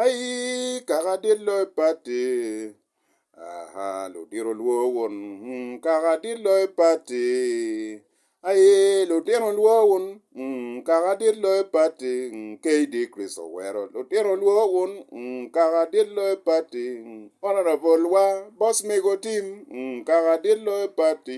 Ayi kaka dit loyo pati aha ludito lwor wun kaka dit loyo pati ayi lutino lwor wun kaka dit loyo pati KD Chris Owero lutino lwor wun kaka dit loyo pati Honourable wa Boss Mego Tim kaka dit loyo pati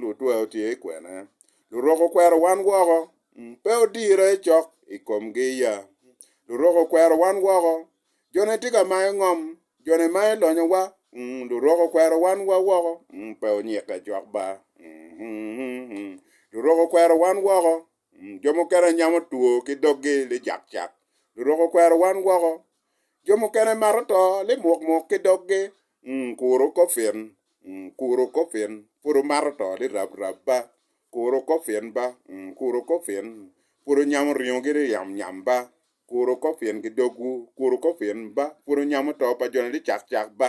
Lutweo tye i kwena. Lurok okwero wan woko. Pe odirre cok i komgi ya. Lurok okwero wan woko. Jone tye ka mayo ngom. Jone mayo lonyowa. Lurok okwero wan wa woko. Pe onyikke cok ba. Lurok okwero wan woko. Jo mukene nyamo two ki doggi li cakcak, lurok okwero wan woko. Jo mukene mato to li mukmuk ki doggi, kuro kofin, kuro kofin, pud omato to li rabrab ba, kuro kofin ba, kuro kofin, pud onyamo ringo ki li yamyam ba, kuro kofin ki dogwu, kuro kofin ba, pud onyamo to pa jone li cakcak ba,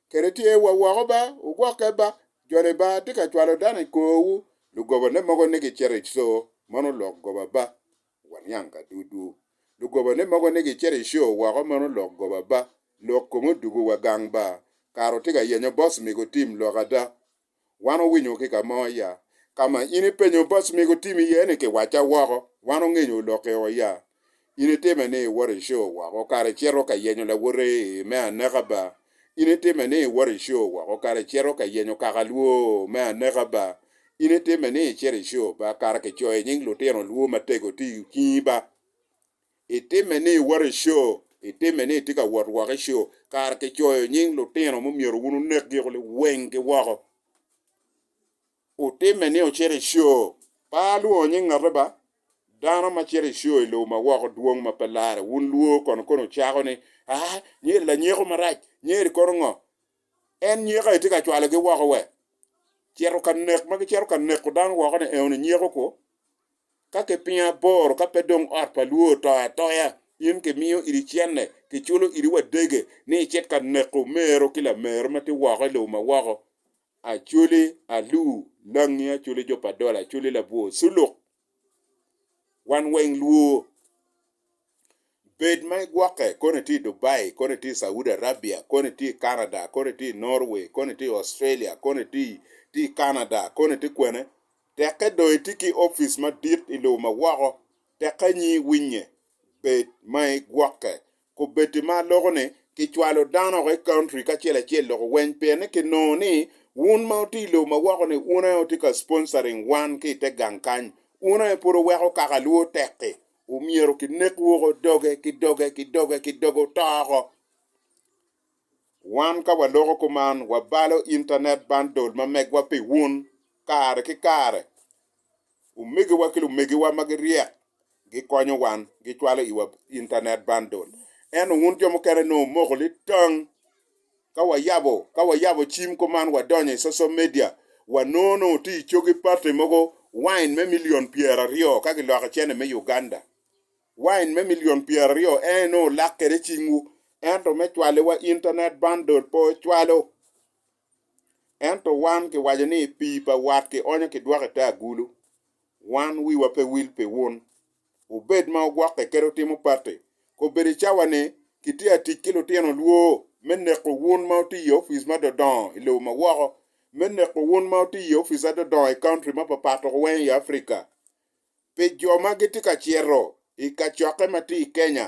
kede tye wa woko ba, wugokke ba, jone ba tye ka cwalo dano i korwu, lugobane mogo ni gicito i co meno lok goba ba, waniang ka dudu, lugobane mogo ni gicito i co woko meno lok goba ba, lok komo dugu wa gang ba, kara wutye ka yenyo bos migo tim lok ada, Wan owinyo ki ka mo ya? Ka ma in ipenyo boss mi gutim iye ni kiwacca woko, wan ongenyo olokke o ya? In itime ni iwoto i show woko kara icito ka yenyo lawote i me aneka ba? In itime ni iwoto i show woko kara icito ka yenyo kaka lwo me aneka ba? In itime ni icito i show ba kara kicoyo i nying lutino lwo matego ti okinyi ba? Itime ni iwoto i co, itime ni itye ka wot woko i co, kara kicoyo nying lutino ma myero wun wunekgi kulu wenggi woko. Wutime ni wucito i co, pe alwongo nying ngate ba, dano ma cito i co i lobo ma woko dwong ma pe larre, wun lwor kono kono wucako ni, Aa, nyo-ri lanyeko marac, nyo-ri kono ngo. En nyeko aye tye ka cwalogi woko we? Cito ka nek ma gicito ka neko dano woko-ni eno-ni nyeko kwo? Ka kipingo aboro, ka pe dong ot pa lwor oto atoya, in kimiyo iri cente, kiculo iri wadege ni icit ka neko omeru ki lameru ma tye woko i lobo ma woko, acoli, aluu, langi, acoli jo pa dola, acoli labwor, culuk. Wan weng lwor. Bed ma igwokke, kono itye i Dubai, kono itye i Saudi Arabia, kono itye i Canada, kono itye i Norway, kono itye i Australia, kono itye i Canada, kono itye kwene, tekke dong itye ki opic madit i lobo ma woko, tekke anyi iwinye. Bed ma igwokke. Kobeddi ma aloko ni, kicwalo dano woko i country ki acel acel loko weny pien ni kinongo ni wun ma wutye i lobo ma woko ni wun aye wutye ka sponsoring wan ki i te gang kany, wun aye pud wuweko kaka lwo tek-ki, Omyero ki nek woko doge ki doge ki doge ki doge oto oko. Wan ka wa loko kuman wa balo internet bundle ma megwa pi wun kare ki kare. Omegiwa ki lumegiwa ma gi ryek gi konyo wan gi cwalo iwa internet bundle. Ento wun jo mukene nongo omoko litang. Ka wayabo Ka wayabo cim kuman wadonyo i social media, wanongo nongo tye i cogi party mogo wine me million pyeraryo ka giloko icene me Uganda. Wine me million pyeraryo en inongo olak kwede cingwu ento me cwale wa internet bundle pe ocwalo. Ento wan kiwaco ni pii pa wat kionyo kidwoko ite agulu. Wan wiwa pe wil pi wun. Obed ma ogwokke kadi otimo patti, kobedo i cawa ni, Kitye ka tic ki lutino lwor me neko wun ma wutiyo i opic ma dodongo i lobo ma woko, me neko wun ma wutiyo i opic adodongo i county ma papat oko weng i Africa, pi jo ma gitye ka cito i kacokke ma tye i Kenya.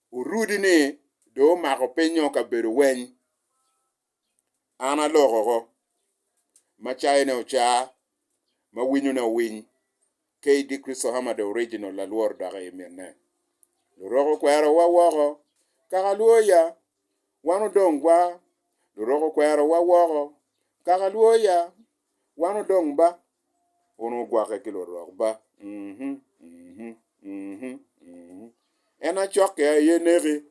Orudi ni dong omako pinyo kabedo weny. An alok oko, ma cayone oca, ma winyone owiny. KD. Christohammer the Original lalworo dok i minne. Lurok okwerowa woko. Kakaluoya! Wan odong gwa. Lurok okwerowa woko. Kakaluoya! Wan odong ba. Wun wugwokke ki lurok ba. En acokke aye neki.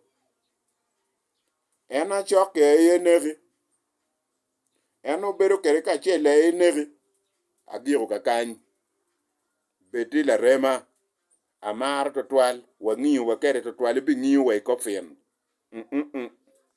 En acokke aye neki. En obedo kede kacel aye neki. Agiko kakany. Bedi larema. Amaro tutwal. Wangiyo wa kede tutwal. Ibingiyo wa i kop fin.